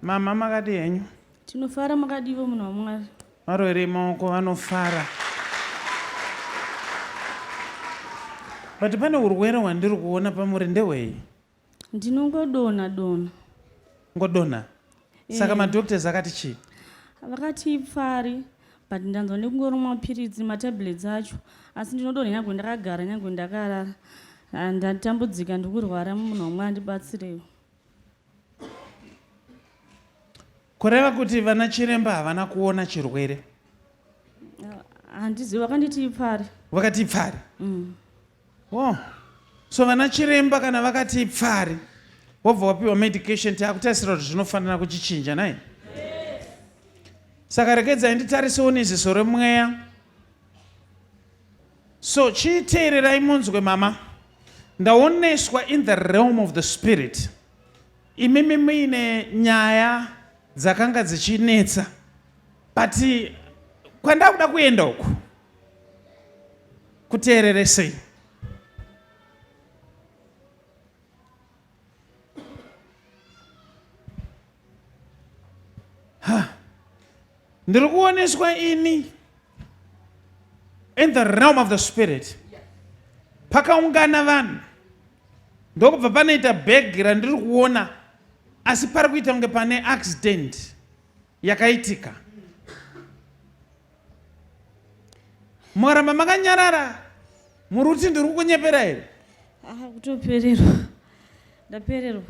Mama makadii henyu? Tinofara makadivo munhu waMwari. Varoerei maoko vanofara. But pane urwere hwandiri kuona pamuri ndehwei? Ndinongodonha donha. Ngodonha? Eh. Saka madoctors akati chii? Vakati ipfari but ndanzwa nekungoromwa mapiritsi matablets acho asi ndinodonha nyangwe ndakagara nyangwe ndakarara. Ah, ndatambudzika ndikurwara munhu waMwari ndibatsirewo. kureva kuti vana chiremba havana kuona chirwere handizi vakanditi ipfari vakati ipfari mm. oh. so vana chiremba kana vakati ipfari wobva wapiwa medication tiakutarisira kuti zvinofanira kuchichinja nai saka regedzai nditarisewo neziso remweya So chii teererai munzwe mama. Ndaoneswa in the realm of the spirit. Imimi muine nyaya dzakanga dzichinetsa. But kwandakuda kuenda uku. Kuteereresei. ndiri kuoneswa ini in the realm of the spirit pakaungana vanhu ndokubva panoita bhegi randiri kuona asi pari kuita kunge pane accident yakaitika mukaramba makanyarara muri kuti ndiri kukunyepera here Ah, kutopererwa ndapererwa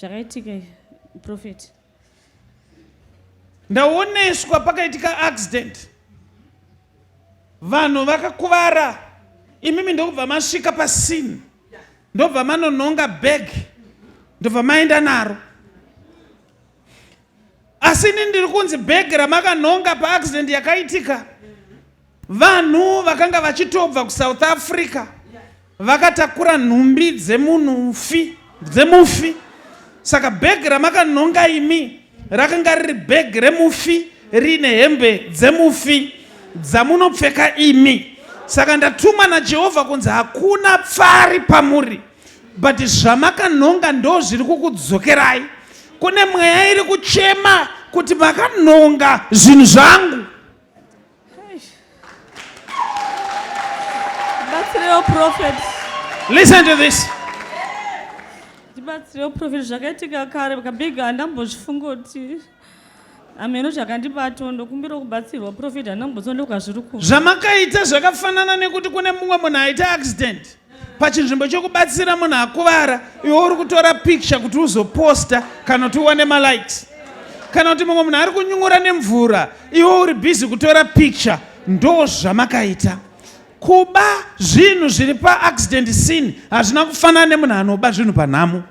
zvakaitika profeti ndaoneswa pakaitika accident vanhu vakakuvara imimi ndokubva masvika pasini ndobva manonhonga bag ndobva maenda naro asi ini ndiri kunzi bhegi ramakanhonga paaccident yakaitika vanhu vakanga vachitobva kusouth africa vakatakura nhumbi dzemunhufi dzemufi saka bhegi ramakanhonga imi rakanga riri bhegi remufi riine hembe dzemufi dzamunopfeka imi saka ndatumwa najehovha kunzi hakuna pfari pamuri but zvamakanhonga ndo zviri kukudzokerai kune mweya iri kuchema kuti makanhonga zvinhu zvangu ndibatsirewo prophet listen to this ndibatsirewo prophet zvakaitika kare kabig handambozvifunga kuti ameno zvakandibato ndokumbira kubatsirwa profeti handina kumbotsondoka zviri ku zvamakaita zvakafanana nekuti kune mumwe munhu aita accident pachinzvimbo chokubatsira munhu akuvara iwe uri kutora picture kuti uzoposta kana kuti uwane malikes kana kuti mumwe munhu ari kunyungura nemvura iwe uri busy kutora picture ndo zvamakaita Kuba zvinhu zviri paaccident scene hazvina kufanana nemunhu anoba zvinhu panhamo.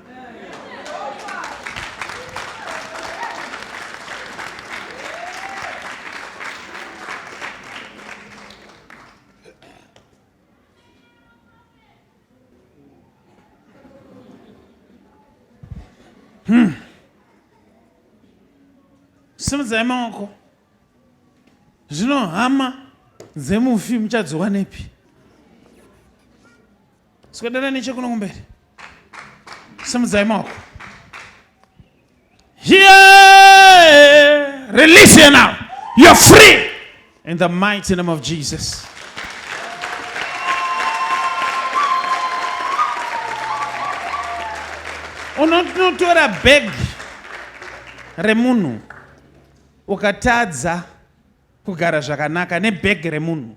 Hmm. Simudzai maoko. Zvino hama dzemufi muchadziwanepi? Swedera nechekuno kumberi. Simudzai maoko. Here, release you now. You're free in the mighty name of Jesus. Unotora bag remunhu Ukatadza kugara zvakanaka nebag remunhu.